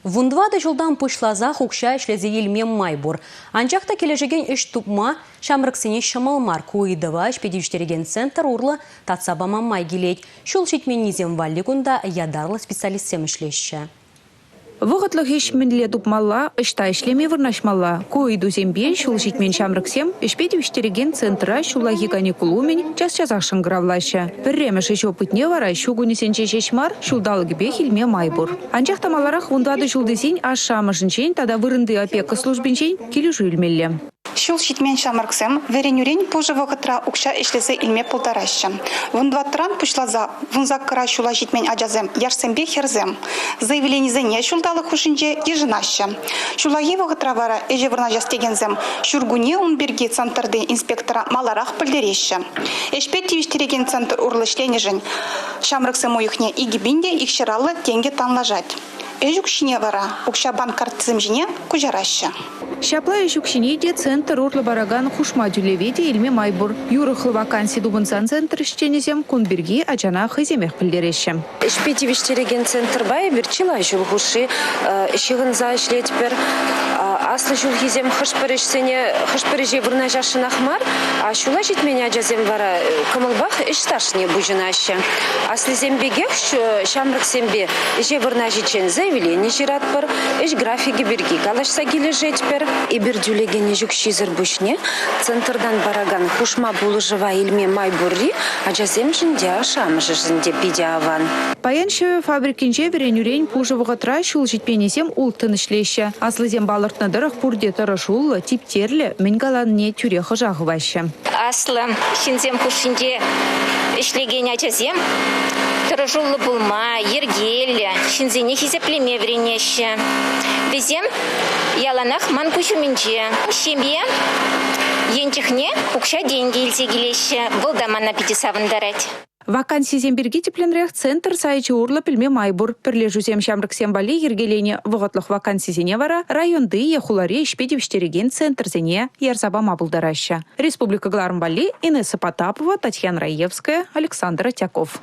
Вунтӑватӑ ҫултан пуҫласах укҫа ӗҫлесе илме май пур. Анчах та килӗшекен ӗҫ тупма ҫамрӑксене ҫӑмӑл мар. Ку ыйтӑва ӗҫпе тивӗҫтерекен центр урлӑ татса пама май килет. Ҫул ҫитменнисем валли кунта ятарлӑ специалистсем ӗҫлеҫҫӗ. Вӑхӑтлӑх ӗҫ мӗнле тупмалла, ӑҫта ӗҫлеме вырнаҫмалла? Ку ыйтусемпе ҫул ҫитмен ҫамрӑксем ӗҫпе тивӗҫтерекен центра ҫуллахи каникул умӗн час-часах шӑнкӑравлаҫҫӗ. Пӗрремӗш ӗҫ опытне вара ҫу кунӗсенче ҫеҫ мар, ҫулталӑкӗпех илме май пур. Анчах та маларах вун тӑватӑ ҫул тесен ашшӗ-амӑшӗнчен тата вырӑнти опека службинчен килӗшӳ илмелле. Ҫул ҫитмен ҫамрӑксем вӗренӳрен пушӑ вӑхӑтра укҫа ӗҫлесе илме пултараҫҫӗ. Вун тӑватӑран пуҫласа вун саккӑра ҫула ҫитмен ачасем яшсемпе хӗрсем заявленисене ҫулталӑк хушшинче йышӑнаҫҫӗ. Ҫуллахи вӑхӑтра вара ӗҫе вырнаҫас текенсем ҫуркунне ун пирки центрти инспектора маларах пӗлтереҫҫӗ. Ӗҫпе тивӗҫтерекен центр урлӑ ӗҫленӗшӗн Ҫамрӑксем уйӑхне икӗ пин те икҫӑраллӑ тенкӗ танлашать. Ӗҫ укҫине вара укҫа банк карттисем ҫине куҫараҫҫӗ. Ҫапла ӗҫ укҫине те центр урлӑ паракан хушма тӳлеве те илме май пур. Юрӑхлӑ ваканси тупӑнсан центр ӗҫченӗсем кун пирки ачана хӑйсемех пӗлтереҫҫӗ. Ӗҫпе тивӗҫтерекен центрпа эпир чылай ҫул хушши ҫыхӑнса ӗҫлетпӗр. Аслӑ ҫулхисем хӑш-пӗр ӗҫсене хӑш-пӗр ӗҫе вырнаҫасшӑнах мар, а ҫула ҫитмен ачасем вара кӑмӑлпах ӗҫ ӗҫне пуҫӑнаҫҫӗ. Аслисем пекех ҫамрӑксемпе ӗҫе вырнаҫиччен заявлени ҫыратпӑр, ӗҫ графикӗ пирки калаҫса килӗшетпӗр. Эпир тӳлекен ӗҫ укҫисӗр пуҫне центртан паракан хушма пулӑшӑва илме май пурри ачасемшӗн те, ашшӗ-амӑшӗшӗн те питӗ аван. Паян ҫӗвӗ фабрикинче вӗренӳрен пушӑ вӑхӑтра ҫул ҫитменнисем улттӑн ӗҫлеҫҫӗ. Аслисем палӑртнӑ тӑрӑх, пурте тӑрӑшуллӑ, типтерлӗ, мӗн каланине тӳрех ӑша хываҫҫӗ. Аслӑ ҫынсем хушшинче ӗҫлекен ачасем тӑрӑшуллӑ пулма, йӗркеллӗ ҫынсене хисеплеме вӗренеҫҫӗ. Вӗсем яланах ман куҫ умӗнче. Ҫемье ен чухне укҫа-тенкӗ илсе килеҫҫӗ. Вӑл та мана питӗ савӑнтарать. Вакансисем пирки тӗплӗнрех центр сайчӗ урлӑ пӗлме май пур. Пӗрлешӳсем ҫамрӑксем валли йӗркеленӗ вӑхӑтлӑх вакансисене вара районти е хулари ӗҫпе тивӗҫтерекен центрсене ярса пама пултараҫҫӗ. Республика кӑларӑм валли Инесса Потапова, Татьяна Раевская, Александр Атяков.